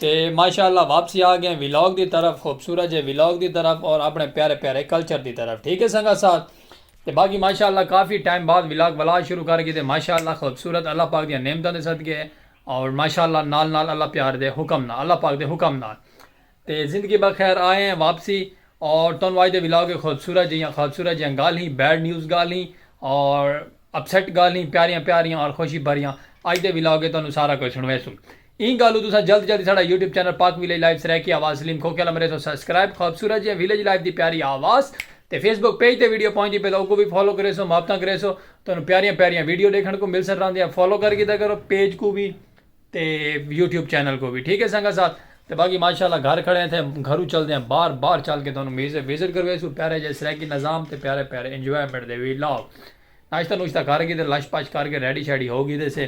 تے ماشاء اللہ واپسی آ گئے ولاگ دی طرف خوبصورت جے ولاگ دی طرف اور اپنے پیارے پیارے کلچر دی طرف ٹھیک ہے سنگا ساتھ تے باقی ماشاء اللہ کافی ٹائم بعد ولاگ ولاگ شروع کر گئے تے ماشاء اللہ خوبصورت اللہ پاک دیا نعمتوں دے صدقے ہے اور ماشاء اللہ نال نال اللہ پیار دے حکم نال اللہ پاک دے حکم نال تے زندگی بخیر آئے ہیں واپسی اور تون واج دے ولاگ خوبصورت جیاں خوبصورت جیاں گال ہی بیڈ نیوز گال ہی اور اپسیٹ گال ہی پیاریاں پیاریاں اور خوشی بھریاں آج دے ولاگ تون سارا کوئی سنوے سوں ایں گالوں تساں جلد جلد ساڈا YouTube channel Pak village life Saraiki آواز سلیم کھوکھے آلا مریسوں سبسکرائب خوبصورت جیاں ویلیج لائف دی پیاری آواز تے فیس بک پیج تے ویڈیو پہنچدی پئے تاں اوکوں وی فالو کریسوں محبتاں کریسوں تہانوں پیاریاں پیاریاں ویڈیو ڈیکھن کوں ملسن راہندیاں فالو کر گھدا کرو پیج کوں وی تے یوٹیوب چینل کوں وی ٹھیک ہے سنگت ساتھ تے باقی ماشاءاللہ گھر کھڑے ہیں تھے گھروں چلدے ہیں باہر باہر چل کے تہانوں میوزک وزٹ کرویسوں پیارے جے سرائیکی نظام تے پیارے پیارے انجوائمنٹ دے ولاگ ناشتہ نوشتہ کر گھدے لش پش کر کے ریڈی شیڈی ہو گھدے سے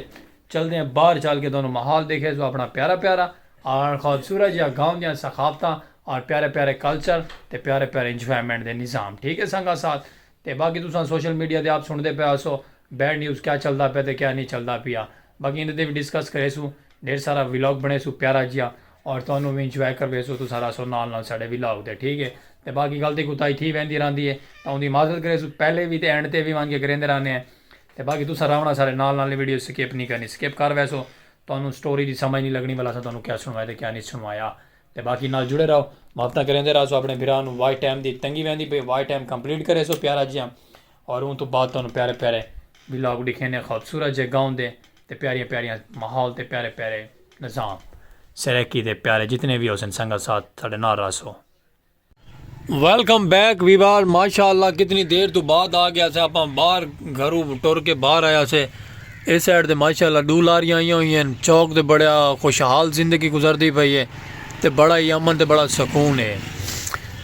چلدے ہیں باہر چل کے دونوں ماحول دیکھے سو اپنا پیارا پیارا آر خود سورج یا گاؤں دیاں ثقافتاں آر پیارے پیارے کلچر تے پیارے پیارے انجوائمنٹ دے نظام ٹھیک ہے سنگا ساتھ تے باقی تساں سوشل میڈیا تے آپ سنڑدے پے آسو بیڈ نیوز کیا چلدا پیا تے کیا نی چلدا پیا باقی ایندے تے وی ڈسکس کرے سوں ڈھیر سارا ولاگ بنے سوں پیارا جیا آر تہانوں وی انجوائے کروے سوں تساں رہسو نال نال ساڈے ولاگ دے ٹھیک ہے تے باقی غلطی کوتاہی تھی ویندی رہندی ہے تاں اوندی معذرت کرے سوں پہلے وی تے اینڈ تے وی وانگے کریندے رہنے ہیں تے باقی تساں راونا سارے نال نال ویڈیو سکپ نی کرنی سکپ کر ویسو تہانوں سٹوری دی سمجھ نی لگنی ولا اساں تہانوں کیا سنوایا تے کیا نی سنوایا تے باقی نال جڑے رہو محبتاں کریندے رہسو اپنے بھرا نوں واچ ٹائم دی تنگی ویندی پئی واچ ٹائم کمپلیٹ کریسو پیارا جیاں اور اوں توں بعد تہانوں پیارے پیارے ولاگ ڈکھینے خوبصورت جے گاؤں دے تے پیاریاں پیاریاں ماحول تے پیارے پیارے نظام سرائیکی دے پیارے جتنے وی ہوسن سنگت ساتھ ساڈے نال رہسو۔ ویلکم بیک ویوار ماشاءاللہ کتنی دیر تو بعد آ گیا سے اپاں باہر گھرو ٹور کے باہر آیا سے اس سائڈ دے ماشاءاللہ دو لاریاں آئیاں ہوئی ہیں چوک دے بڑا خوشحال زندگی گزر دی پئی ہے تے بڑا ہی امن تے بڑا سکون ہے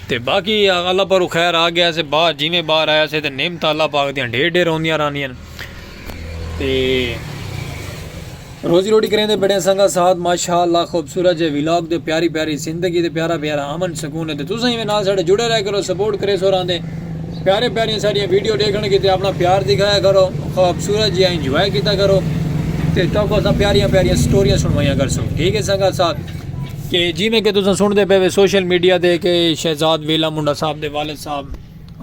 تے باقی اللہ پر خیر آ گیا سے باہر جی میں باہر آیا سے تے نعمت اللہ پاک دیاں ڈھیر ڈھیر ہوندیاں رہنیاں تے روزی روٹی کریندے بڑے سنگا ساتھ ماشاءاللہ خوبصورت جے ولاگ تے پیاری پیاری زندگی تے پیارا پیارا امن سکون ہے تے تساں ایویں نال ساڈے جڑے رہ کرو سپورٹ کرے سو راندے پیارے پیاری ساڈیاں ویڈیو دیکھن کیتے اپنا پیار دکھایا کرو خوبصورت جے انجوائے کیتا کرو تے تو کو پیاریاں پیاریاں سٹوریاں سنوائیاں کر سو ٹھیک ہے سنگا ساتھ کہ جی میں کہ تساں سن دے پے سوشل میڈیا دے کہ شہزاد ویلا منڈا صاحب دے والد صاحب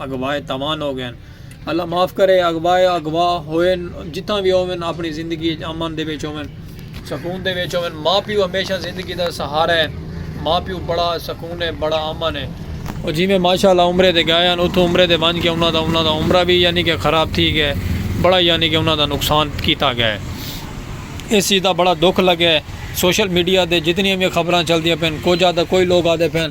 اگوائے توان ہو گئے اللہ معاف کرے اغوائے اغوا ہوئن جتھاں وی ہوون اپنی زندگی اچ امن دے وچ ہوون سکون دے وچ ہوون ماء پیو ہمیشہ زندگی دا سہارا ہے ماء پیو بڑا سکون ہے بڑا امن ہے او جیویں ماشاءاللہ عمرے تے گئے ہن اتھوں عمرے تے ونج کے انہاں دا انہاں دا عمرہ وی یعنی کہ خراب تھی گئے بڑا یعنی کہ انہاں دا نقصان کیتا گئے اس چیز دا بڑا دکھ لگے سوشل میڈیا تے جتنیاں وی خبراں چلدیاں پن کجھ آدھا کوئی لوگ آدھے پن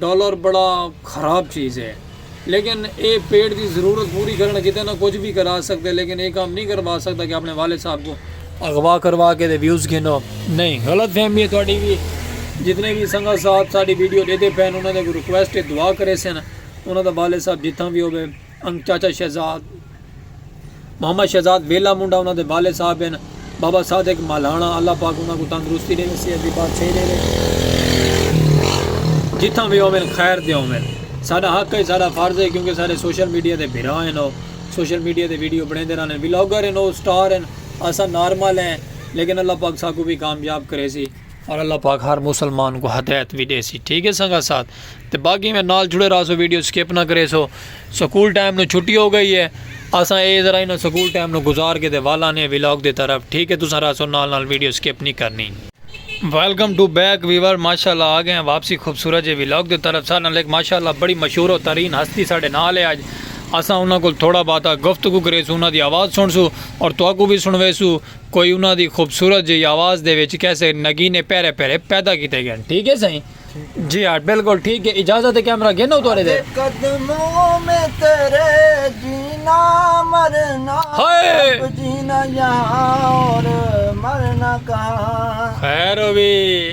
ڈالر بڑا خراب چیز ہے لیکن اے پیٹ دی ضرورت پوری کرن کیتے نہ کجھ وی کرا سکدے لیکن اے کم نی کروا سکدا کہ اپنے والد صاحب کوں اغوا کروا کے تے ویوز گھنو نئیں غلط فہمی ہے تہاڈی وی جتنے وی سنگت صاحب ساڈی ویڈیو ڈیدھے پئن انہاں دے اگوں ریکویسٹ ہے دعا کریسن انہاں دا والد صاحب جتھاں وی ہووے انگ چاچا شہزاد محمد شہزاد ویلا منڈا انہاں دے والد صاحب ہن بابا صادق مالہانا اللہ پاک انہاں کو تندرستی ڈیوے صحت دی بادشاہی ڈیوے جتھاں وی ہوون خیر دے ہوون ساڈا حق ہے ساڈا فرض ہے کیونکہ سارے سوشل میڈیا دے بھرا ہن او سوشل میڈیا دے ویڈیو بنیندے رہن ولاگر ہن او سٹار ہن اساں نارمل ہیں لیکن اللہ پاک ساکو وی کامیاب کریسی اور اللہ پاک ہر مسلمان کو ہدایت بھی دے سی ٹھیک ہے سنگا ساتھ تو باقی میں نال جڑے رہا سو ویڈیو سکپ نہ کرے سو سکول ٹائم نو چھٹی ہو گئی ہے اساں اے ذرا انہاں سکول ٹائم نو گزار کے دے والا نے ویلاگ دے طرف ٹھیک ہے تساں رہا سو نال نال ویڈیو سکپ نہیں کرنی ویلکم ٹو بیک ویور ماشاءاللہ آ گئے ہیں واپسی خوبصورت جے ویلاگ دے طرف سارے نال ایک ماشاءاللہ بڑی مشہور و ترین ہستی ساڈے نال ہے اج اساں انہاں کول تھوڑا باتا گفتگو کرے سو انہاں دی آواز سن سو اور تواکو بھی سنوے سو کوئی انہاں دی خوبصورت جئی آواز دے وچ کیسے نگینے پیرے پیرے پیدا کیتے گن ٹھیک ہے سائیں جی ہاں بلکل ٹھیک ہے اجازت ہے کیمرہ گھنو توڑے دے خیر ہووی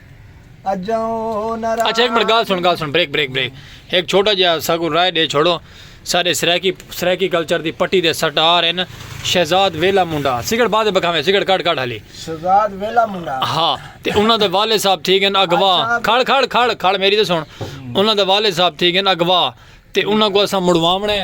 اچھا ایک منٹ گال سن گال سن بریک بریک بریک ایک چھوٹا جہا ساگو رائے دے چھوڑو سارے سرائیکی سرائیکی کلچر دی پٹی دے سٹار ہیں شہزاد ویلا منڈا سگڑ بعد بکھاویں سگڑ کٹ کٹ ہلی شہزاد ویلا منڈا ہاں تے انہاں دے والد صاحب تھی گن اگوا اچھا۔ کھڑ کھڑ کھڑ کھڑ میری تے سن انہاں دے والد صاحب تھی گن اگوا تے انہاں کو اساں مڑواونے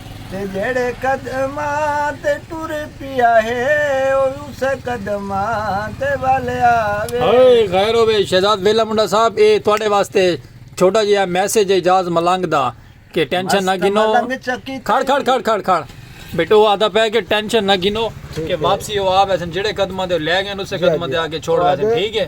تے جیڑھے قدماں تے ٹر پیا ہے او اسے قدماں تے ول آوے۔ ہائے خیر ہووے شہزاد ویلا منڈا صاحب اے تہاڈے واسطے چھوٹا جیہا میسج ہے اعجاز ملنگ دا کہ ٹینشن نہ گھنو کھڑ کھڑ کھڑ کھڑ کھڑ بیٹو او آدھا پے کہ ٹینشن نہ گھنو کہ واپسی او آ ویسن جیڑھے قدماں تے او لے گئے اسے قدماں تے آ کے چھوڑ ویسن ٹھیک ہے۔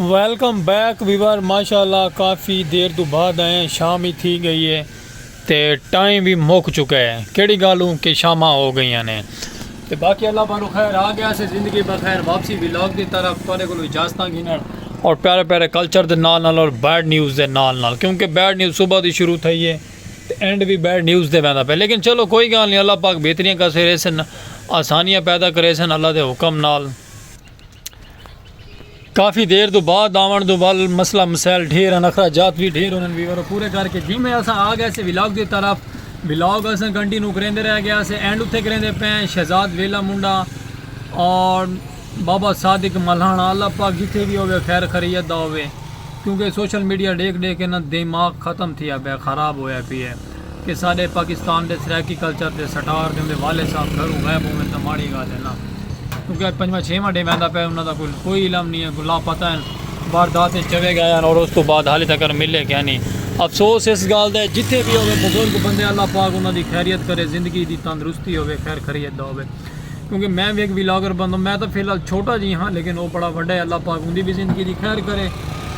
ویلکم بیک ویور ماشاءاللہ کافی دیر تو بعد آئے ہیں شام ہی تھی گئی ہے تے ٹائم بھی مک چکا ہے کیڑی گالوں کہ شامہ ہو گئی ہیں تے باقی اللہ پانو خیر آ گیا سے زندگی بخیر واپسی ویلاگ دی طرف تارے کلو اجازتاں گھنر اور پیارے پیارے کلچر دے نال نال اور بیڈ نیوز دے نال نال کیونکہ بیڈ نیوز صبح دی شروع تھئی ہے تے اینڈ وی بیڈ نیوز تے ویندا پئے لیکن چلو کوئی گالھ نی اللہ پاک بہتریاں کرسے ریسن آسانیاں پیدا کریسن اللہ دے حکم نال۔ کافی دیر توں بعد آون توں ول مسئلہ مسائل ڈھیر ہن اخرا جات وی ڈھیر ہونن ویور او پورے کر کے جی میں اساں آ گئے سے ولاگ دی طرف ولاگ اساں کنٹینو کریندے رہ گئے سے اینڈ اتھے کریندے پئے ہیں شہزاد ویلا منڈا اور بابا صادق ملہاݨا اللہ پاک جتھے وی ہووے خیر خریت دا ہووے کیونکہ سوشل میڈیا ݙیکھ ݙیکھ کے نا دیماغ ختم تھیا پئے خراب ہویا پی اے کہ ساݙے پاکستان دے سرائیکی کلچر دے سٹار تے اوندے والد صاحب گھروں غائب ہوون تاں ماڑی گالھ اے نا کیونکہ اج پنجواں چھیواں ݙینہ آندا پئے انہاں دا کوئی کوئی علم نی اے کوئی لاپتہ ہن واردات اچ چلے گئے ہن اور اوستوں بعد حالی تکر ملے کینی افسوس اس گالھ دا اے جتھے وی ہووے بزرگ بندے اللہ پاک انہاں دی خیریت کرے زندگی دی تندرستی ہووے خیر خریت دا ہووے۔ کیونکہ میں وی ہک ولاگر بندوں میں تاں فی الحال چھوٹا جی ہاں لیکن او بڑا وڈا ہے اللہ پاک اوندی وی زندگی دی خیر کرے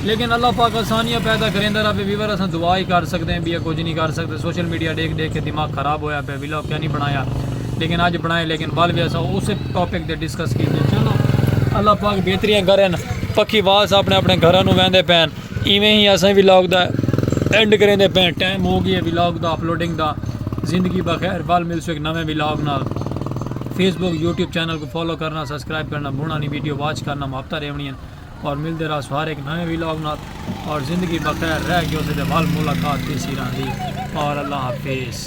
لیکن اللہ پاک آسانیاں پیدا کریندا رہوے ویور اساں دعا ہی کر سکدے ہیں بیا کچھ نہیں کر سکدے سوشل میڈیا ڈیکھ ڈیکھ کے دماغ خراب ہویا پیا ولاگ کیا نہیں بنایا لیکن اج بنائے لیکن ول وی اساں اس ٹاپک تے ڈسکس کیتے چلو اللہ پاک بہتریاں کرن پکھی واس اپنے اپنے گھراں نو ویندے پین ایویں ہی اساں ولاگ دا اینڈ کریندے پئے ٹائم ہو گیا ولاگ دا اپلوڈنگ دا زندگی بخیر ول ملسو ایک نویں ولاگ نال فیس بک یوٹیوب چینل کو فالو کرنا سبسکرائب کرنا بھونا نہیں ویڈیو واچ کرنا محبتہ ریونی ہیں اور ملتے رہا سوار ایک نویں ولاگ نال اور زندگی بخیر رہ گئے اسے دے ول ملاقات تیسی رہا دی اور اللہ حافظ